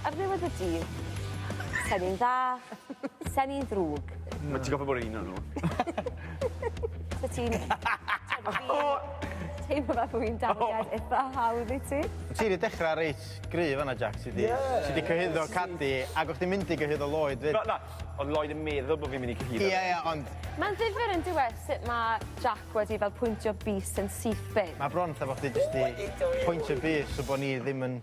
Ar ddiwedd y dydd, se'n un dda, se'n un ddrwg. Wyt ti'n gofio bod un o nhw? Wyt ti'n... Teimlo fel bod fi'n darllen eitha hawdd i ti. Ti wedi dechrau reit gryf fan'na Jac, ti 'di... Ie! ...ti 'di cyhuddo Cadi, ac o'ch chdi'n mynd i gyhuddo Lloyd 'fyd. Na, na, o'dd Lloyd yn meddwl bo' fi'n mynd i cyhuddo fe. Ie, ie, ond... Mae'n ddifyr yndyw e sut ma' Jac wedi fel pwyntio bys yn syth bin. Mae bron fatha bo' chdi jyst 'di pwyntio bys so bo' ni ddim yn